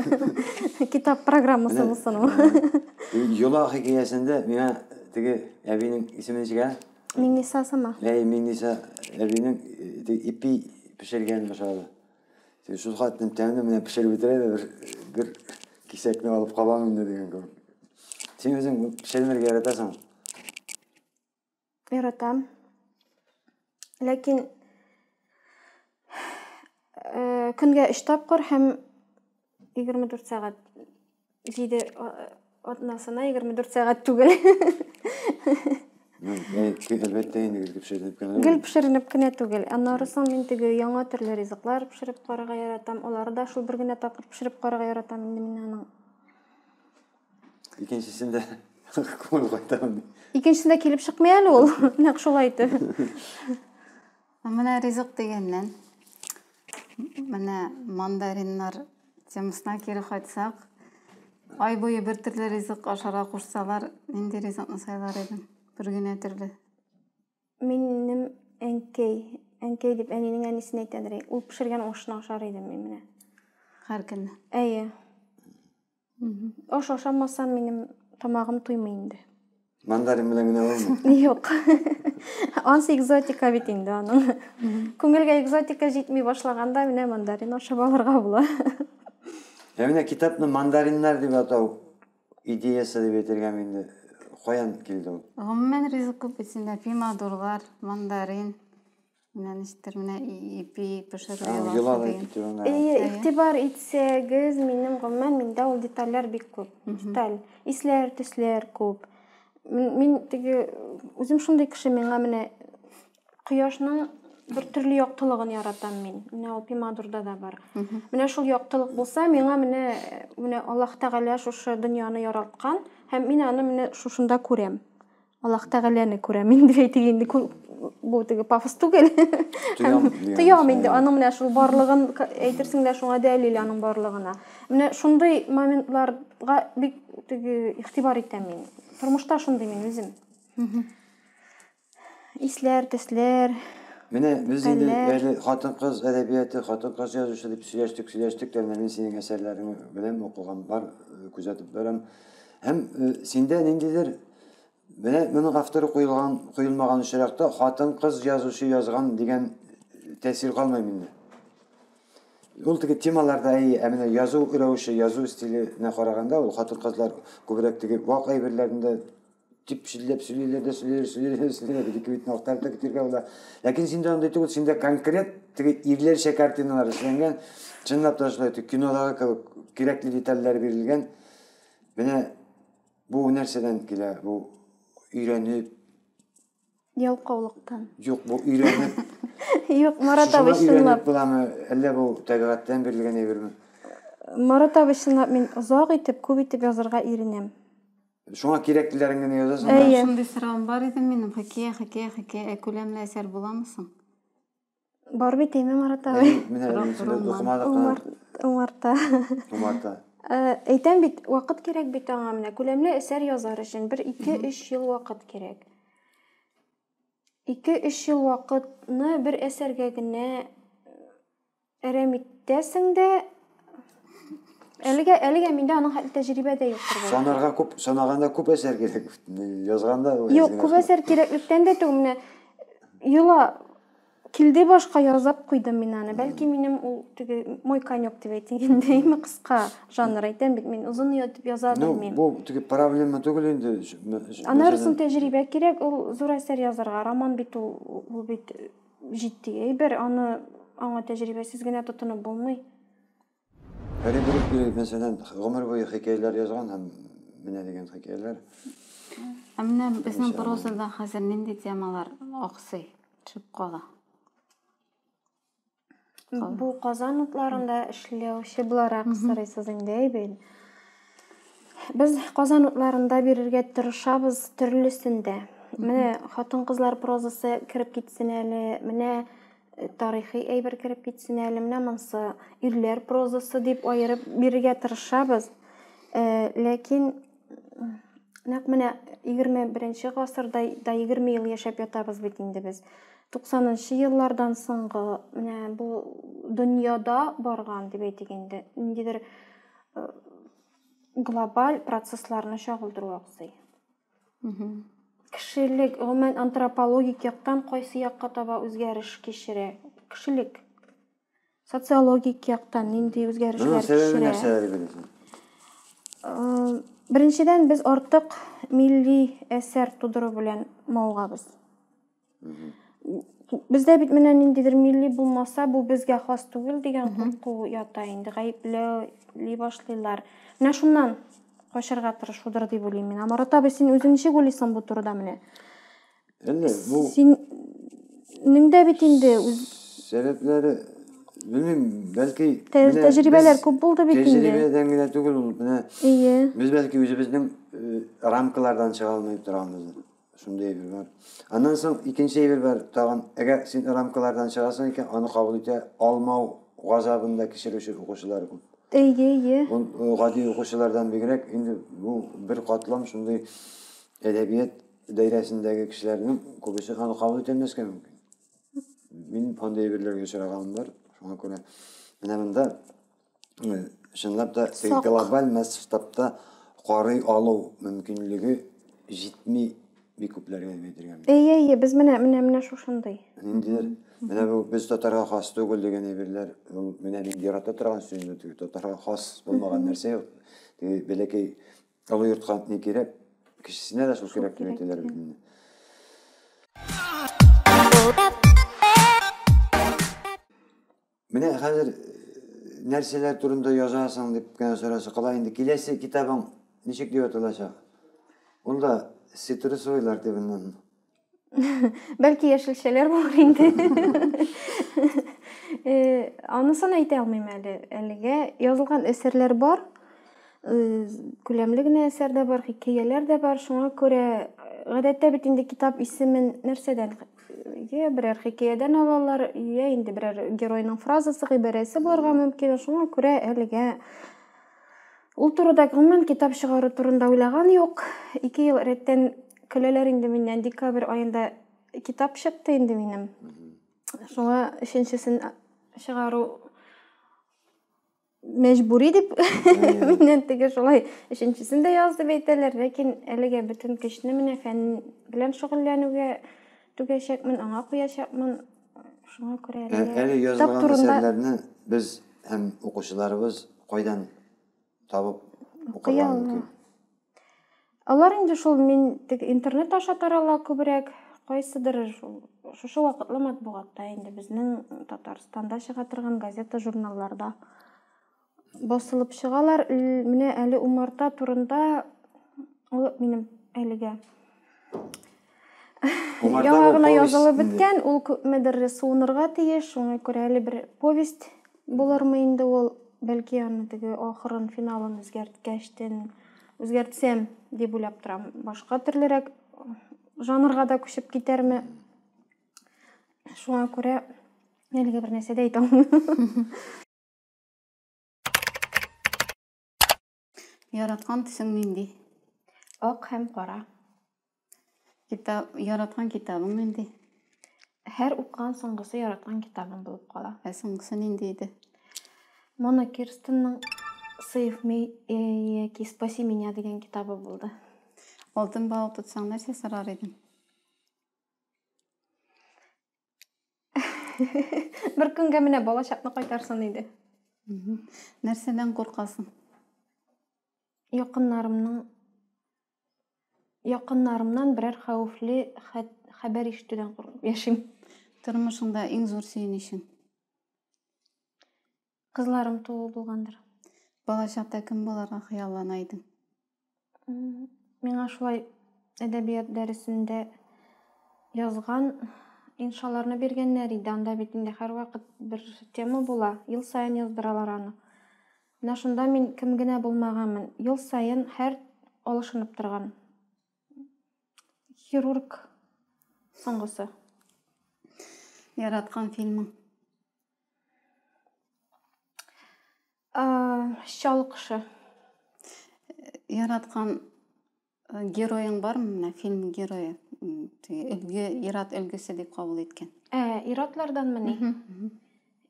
Китап программасы булсын ул. Йола хикәясендә миңа теге әбинең исеме ничек, ә? Миңниса сама. Әй, Миңниса әбинең э, ипи пешергән башады. Шул хатын тәмле менә пешереп бетерә дә бер бер кисәкне алып калам инде дигән кебек. Син үзең пешермергә яратасың? Яратам. Ләкин э, көнгә өч тапкыр һәм 24 сәгать 7 атнасына 24 сәгать түгел. Әлбәттә инде гел пешеренеп кенә. Гел пешеренеп кенә түгел. Аннары соң мин теге яңа төрле ризыклар пешереп карарга яратам. Алары да шул бер генә тапкыр пешереп карарга яратам инде мин аның. Икенчесен дә күңел кайтамын. Икенчесен дә килеп чыкмый әле ул. Нәкъ шулай итеп. Менә ризык дигәннән. Менә мандариннар темасына кире кайтсак, ай буе бер төрле ризык ашарга кушсалар, нинди ризыкны сайлар идең? Бер генә төрле. Минем әнкәй, әнкәй дип әнинең әнисен әйтәдер. Ул пешергән ашны ашар идем мин менә. Һәр көнне. Әйе. Аш ашамасам, минем тамагым туймый инде. Мандарин белән генә булмый. Юк. Ансы экзотика бит инде аның. Күңелгә экзотика җитми башлаганда менә мандарин ашап алырга була. Ә менә китапны мандариннар дип атау идеясы дип әйтергә инде каян килде ул? Гомумән ризык күп бит инде, помидорлар, мандарин. Менә ничектер менә ипи пешерү йоласы дигән. Әйе, игътибар итсәгез, минем гомумән миндә ул детальләр бик күп. Деталь, исләр, төсләр күп. Мин теге үзем шундый кеше, миңа менә кояшның бер төрле яктылыгын яратам мин. Менә ул пимадурда да бар. Менә шул яктылык булса, миңа менә менә Аллаһ Тәгалә шушы дөньяны яраткан һәм мин аны менә шушында күрәм. Аллаһ Тәгаләне күрәм инде әйтик инде бу теге пафос түгел. Тоям инде аның менә шул барлыгын әйтерсең лә шуңа дәлил аның барлыгына. Менә шундый моментларга бик теге игътибар итәм мин. Тормышта шундый мин үзем. Исләр, төсләр, Менә без инде әле хатын-кыз әдәбияты, хатын-кыз язучы дип сөйләштек, сөйләштек тә, менә мин синең әсәрләрең белән укыган бар, күзәтеп барам. Һәм синдә ниндидер Менә моның авторы куелган, куелмаган очракта хатын-кыз язучы язган дигән тәэсир калмый миндә. Ул теге темаларда әй, ә менә язу рәвеше, язу стиленә караганда ул хатын-кызлар күбрәк теге вак әйберләрендә дип чилләп сөйлиләр дә сөйлиләр, сөйлиләр, сөйлиләр, бит ике битне актарып та китергә була. Ләкин синдә андый түгел, синдә конкрет теге ирләрчә картиналар эшләнгән, чынлап та шулай, кинодагы кебек кирәкле детальләр бирелгән. Менә Бу нәрсәдән килә? Бу өйрәнеп Ялкаулыктан. Юк, бу өйрәнеп. Юк, Марат абый чынлап. Буламы, әллә бу табигатьтән бирелгән әйберме? Марат абый чынлап мин озак итеп, күп итеп язырга иренәм. Шуңа кирәклеләрен генә язасың. Әйе. Шундый сорауым бар иде минем. Хикәя, хикәя, хикәя. Ә күләмле әсәр буламы соң? Бар бит әйме Марат абый. Умарта. Умарта. Э, әйтәм бит, вакыт кирәк бит аңа менә. Күләмле әсәр язар өчен 1-2-3 ел вакыт кирәк. 2-3 ел вакытны бер әсәргә генә әрәм итәсең дә, Әлегә әлегә миндә аның хәтле тәҗрибә дә юктыр бәлки. Санарга күп, санаганда күп әсәр кирәк. Язганда Юк, күп әсәр кирәклектән дә түгел. Менә йола килде башка язып куйдым мин аны. Бәлки минем ул теге мой конек дип әйтгәндәйме кыска жанр әйтәм бит мин озын ятып яза ну, белмим. Ну, бу теге проблема түгел инде. Анарысын тәҗрибә кирәк, ул зур әсәр язарга, роман бит ул, ул бит Җитди әйбер, аны аңа тәҗрибәсез генә тотынып булмый. Фәрит Рөстәев, мәсәлән, гомер буе хикәяләр язган һәм менә дигән хикәяләр. Ә менә безнең прозада хәзер нинди темалар аксый, төшеп кала? Бу Казан утларында эшләүче буларак сорыйсыз инде, әйбәт. Без Казан утларында бирергә тырышабыз төрлесен дә. Менә хатын-кызлар прозасы кереп китсен әле, менә э, тарихи әйбер кереп китсен әле, менә монсы ирләр прозасы дип аерып бирергә тырышабыз. Э, ләкин Нәкъ менә 21 гасырда да 20 ел яшәп ятабыз бит инде без. 90-нчы еллардан соңгы менә бу дөньяда барган дип әйтик инде, ниндидер э, глобаль процессларны чагылдыру аксый. Кешелек, гомумән антропологик яктан кайсы якка таба үзгәреш кичерә? Кешелек Социологик яктан нинди үзгәрешләр кичерә? Беренчедән, без артык милли әсәр тудыру белән мавыгабыз. Бездә бит менә ниндидер милли булмаса, бу безгә хас түгел дигән курку ята инде, гаепләүли башлыйлар. Менә шуннан качарга тырышудыр дип уйлыйм мин. Марат абый, син үзең ничек уйлыйсың бу турыда менә? Әллә бу Синең дә бит инде үз сәбәпләре белмим, бәлки Тә- менә тәҗрибәләр без күп булды бит инде. Тәҗрибәдән генә түгел ул, менә Әйе. без бәлки үзебезнең э, рамкалардан чыга алмый торганбыздыр. Шундый әйбер бар. Аннан соң икенче әйбер бар тагын. Әгәр син рамкалардан чыгасың икән, аны кабул итә алмау газабын да кичерүче укучылар күп. Әйе, әйе. Ул э, гади укучылардан бигрәк инде бу бер катлам шундый әдәбият Даирәсендәге кешеләрнең күбесе аны кабул итәлмәскә мөмкин. Мин андый әйберләргә очраганым бар. Шуңа күрә менә монда чынлап та глобаль масштабта карый алу мөмкинлеге җитми бик күпләргә дип әйтергә мөмкин. Әйе, әйе, без менә менә менә шушындый. Ниндидер менә бу без татарга хас түгел дигән әйберләр, ул менә мин ярата торган сүз инде теге татарга хас булмаган нәрсә юк. Теге бәләкәй Олы йортка ни кирәк? Кечесенә дә шул кирәк дип әйтәләр бит инде. Менә хәзер э, нәрсәләр турында язасың дип кенә сораса, кала инде киләсе китабың ничек дип аталачак? Ул да цитрусовыйлар дип Бәлки яшелчәләр булыр инде. Э, анысын әйтә алмыйм әле. Әлегә язылган әсәрләр бар. Э, күләмле генә әсәр дә бар, хикәяләр дә бар. Шуңа күрә э, гадәттә бит инде китап исемен нәрсәдән я берәр хикәядән алалар, я инде берәр геройның фразасы, гыйбарәсе булырга мөмкин. Шуңа күрә әлегә Ул турыда гомумән китап чыгару турында уйлаган юк. Ике ел рәттән көләләр инде миннән. Декабрь аенда китап чыкты инде минем. Шуңа өченчесен чыгару мәҗбүри дип миннән теге шулай өченчесен дә яз дип әйтәләр, ләкин әлегә бөтен көчне менә фән белән шөгыльләнүгә түгәчәкмен, аңа куячакмын. Шуңа күрә әле Ә- әле китап язылган турында әсәрләрне без һәм укучыларыбыз кайдан табып укый укырга ала. мөмкин Алар инде шул мин тег интернет аша тарала күбрәк. Кайсыдыр шул шушы вакытлы матбугатта инде безнең Татарстанда чыга торган газета-журналларда. Басылып чыгалар. Менә әле умарта турында ул минем әлегә яңа гына язылып беткән, ул күпмедер суынырга тиеш, шуңа күрә әле бер повесть булырмы инде ул, бәлки аны теге ахырын, финалын үзгәрткәчтен үзгәртсәм дип уйлап торам. Башка төрлерәк жанрга да күчеп китәрме? Шуңа күрә әлегә бер нәрсә дә әйтә алмыйм. Яраткан төсең нинди? Ак һәм кара. Китап, яраткан китабың нинди? Һәр укыган соңгысы яраткан китабым булып кала. Ә соңгысы нинди иде? Мона Кирстенның Save me э, яки Спаси меня дигән китабы булды. Алтын балык тотсаң нәрсә сорар идең? Бер көнгә менә балачакны кайтарсын иде. Нәрсәдән куркасың? Якыннарымның якыннарымнан берәр хәвефле хәбәр ишетүдән куркып яшим. Тормышыңда иң зур сөенечең? Кызларым туу булгандыр. Балачакта кем буларга хыяллана идең? Миңа шулай әдәбият дәресендә язган иншаларны биргәннәр иде. Анда бит инде һәрвакыт бер тема була. Ел саен яздыралар аны. Менә шунда мин кем генә булмаганмын. Ел саен һәр алышынып торган. Хирург соңгысы. Яраткан фильмың? Чал кошы. Яраткан героең бармы? Менә фильм герое. Өлге, ират өлгесе дип кабул иткән. Ә, иратлардан мени?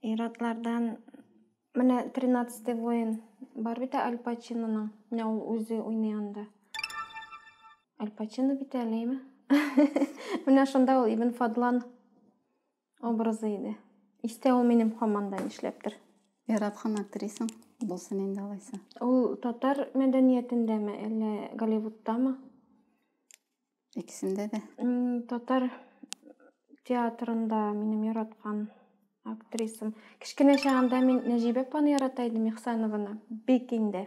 Иратлардан менә 13 воин бар бит Аль Пачиноның. Менә ул үзе уйный анда. Аль Пачино бит әлеме? Менә шунда ул Ибн Фадлан Образы иде. Истә ул минем хаман да нишләптер. Яраткан актрисаң булсын инде алайса. Ул татар мәдәниятендәме, әллә Голливудтамы? Икесендә дә. Татар театрында минем яраткан актрисам. Кечкенә чагында мин Нәҗибә апаны ярата идем, Ихсанованы. Бик инде.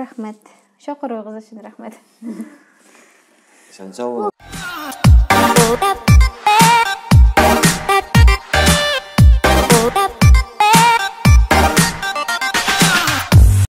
Рәхмәт. Чакыруыгыз өчен рәхмәт. Исән сау булыгыз.